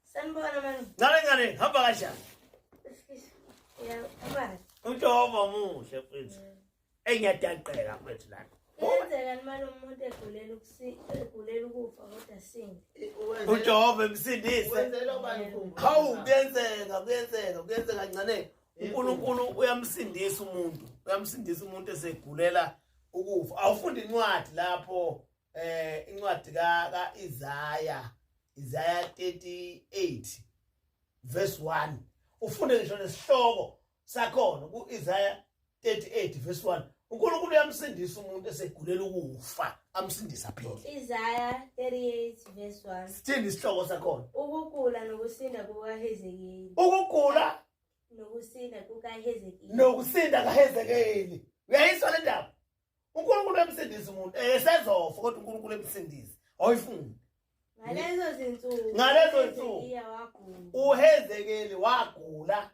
Sen bu arabanın. Nare nare ha bagajda. Ya ama. Ujoba muhle mfethu. Engiyadaqeka mfethu la. Kuyenzeka imali umuntu egulela ukusi egulela ukufa kodwa sindi. Ujoba emsindise. Wenzela ubani khumbu. Hawu kuyenzeka kuyenzeka kuyenzeka ncane. uNkulunkulu uyamsindisa umuntu uyamsindisa umuntu esegulela ukufa awufunda incwadi lapho eh incwadi ka ka Isaya Isaya 38 verse 1 ufunde ngisho nesihloko sakhona ku Isaya 38 verse 1 uNkulunkulu uyamsindisa umuntu esegulela ukufa amsindisa phela Isaya 38 verse 1 Sithini isihloko sakhona Ukugula nokusinda kukaHezekeli Ukugula nokusinda kukaHezekeli nokusinda kaHezekeli uyayizwa le ndaba uNkulunkulu emsindisa umuntu eh sezofa kodwa uNkulunkulu emsindisa awuyifuni ngalezo zinsuku ngalezo zinsuku uhezekeli wagula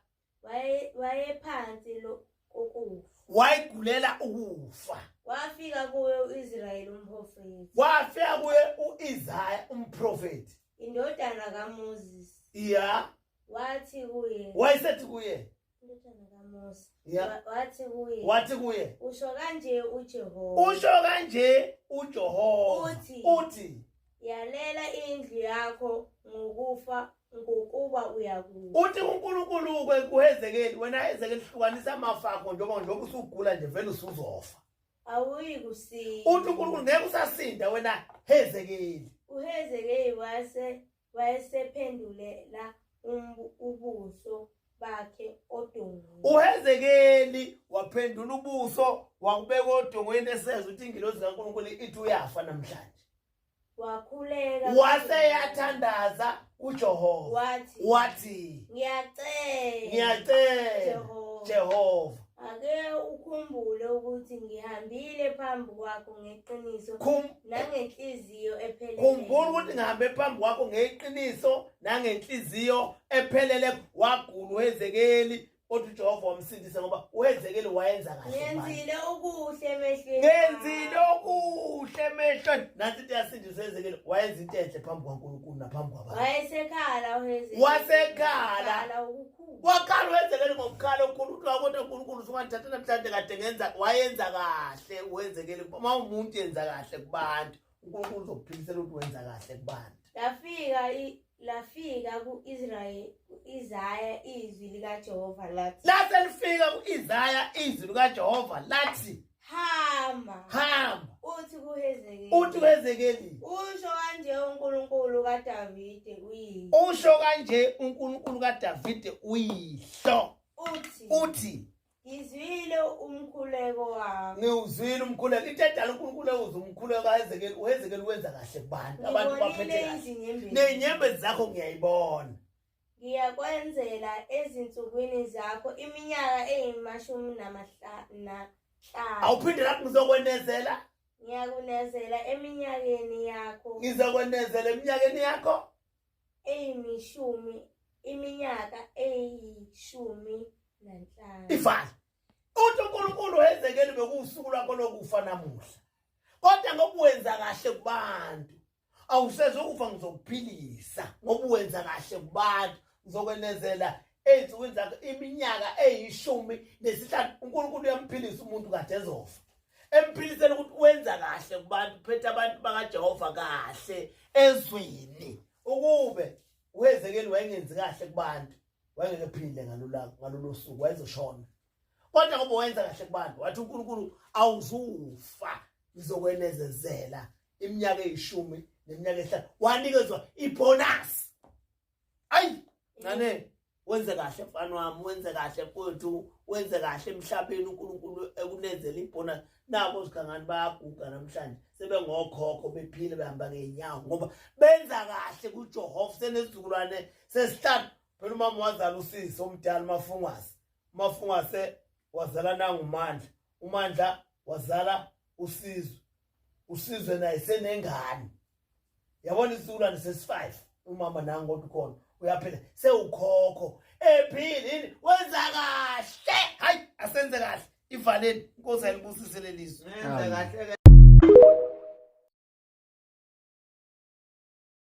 wayephansi lo kokufa wayigulela ukufa wafika kuye uIsrayeli umprofeti wafika kuye uIsaya umprofeti indodana kaMoses iya wathi kuye wayesethi kuye Indodana kaMose. Yeah. Wa- Wathi kuye. wathi kuye Usho kanje uJehova. usho kanje ujehova Uthi. uthi Yalela indlu yakho ngokufa ngokuba uyakufa. uthi unkulunkulu ke kuhezekeli wena hezekeli hlukanisa amafa akho njengoba njengoba usugula nje vele usuzofa Awuyi kusinda. uthi unkulunkulu ngeke usasinda wena hezekeli Uhezekeli wase wayesephendulela ubuso bakhe odongweni uhezekeli waphendula ubuso wakubeka odongweni eseza ukuthi ingilozi kankulunkulu ithi uyafa namhlanje wakhuleka waseyathandaza uJehova wathi wathi ngiyacela ngiyacela Jehova ake ukhumbule ukuthi ngihambile phambi kwakho ngeqiniso nangenhliziyo ephelele khumbula ukuthi ngihambe phambi kwakho ngeqiniso nangenhliziyo ephelele wagula uHezekeli kodwa uJehova wamsindisa ngoba uHezekeli wayenza kahle ngenzile okuhle emehlweni ngenzile okuhle emehlweni nathi siyasindisa uHezekeli wayenza into enhle phambi kwaNkulunkulu naphambi kwabantu wayesekhala uHezekeli wasekhala ukukhuluma waqala wenzekele ngokuqala unkulunkulu kodwa unkulunkulu usungandithatha namhlanje kade ngenza wayenza kahle wenzekele uma umuntu yenza kahle kubantu unkulunkulu uzokuphilisela ukuthi wenza kahle kubantu lafika lafika ku-israyeli ku-isaya izwi likajehova lathi lase lifika ku-isaya izwi likajehova lathi hamba hamba uthi kuhezekeli uthi wezekeli usho kanje uNkulunkulu kaDavide uyihlo usho kanje uNkulunkulu kaDavide uyihlo uthi uthi ngizwile umkhuleko wakho ngiwuzwile umkhuleko into edala uNkulunkulu ewuze umkhuleko kaHezekeli uHezekeli wenza kahle kubantu abantu baphethe kahle nenyembezi zakho ngiyayibona Ngiyakwenzela ezinsukwini zakho iminyaka eyimashumi namahlanu. Awuphinde lapho ngizokwenezela. Ngiyakunezela eminyakeni yakho. Ngizokwenezela eminyakeni yakho. Eyimishumi iminyaka eyishumi nanhlanu. Ifana. Uthi uNkulunkulu wezekeli bekuwusuku lwakho lokufa namuhla. Kodwa ngokuwenza kahle kubantu. awusezokufa ngizokuphilisa ngoba uwenza kahle kubantu ngizokwenezela ey'nsukwini zakhe iminyaka eyishumi nesihlanu unkulunkulu uyamphilisa umuntu kade ezofa emphilisela ukuthi wenza kahle kubantu phethe abantu bakajehova kahle ezwini ukube wezekeli wayengenzi kahle kubantu wayengeke phile ngalolo suku wayezoshona kodwa ngoba wenza kahle kubantu wathi unkulunkulu awuzufa ngizokwenezezela iminyaka eyishumi neminyaka ehlanu wanikezwa ibonus ayi ngane wenze kahle mfana wami wenze kahle mfowethu wenze kahle emhlabeni uNkulunkulu ekunenzela ibonus nabo zigangani bayaguga namhlanje sebengokhokho bephile behamba ngeenyawo ngoba benza kahle kuJehova senesizukulwane sesihlanu phela umama wazala usisi omdala umafungwase umafungwase wazala nangumandla umandla wazala usizwe usizwe naye senengane yabona isizukulwane sesi-five umama nangu kodwa ukhona uyaphila sewukhokho ephile yini wenza kahle hayi asenze kahle ivaleni inkosi ayilibusise lelizwe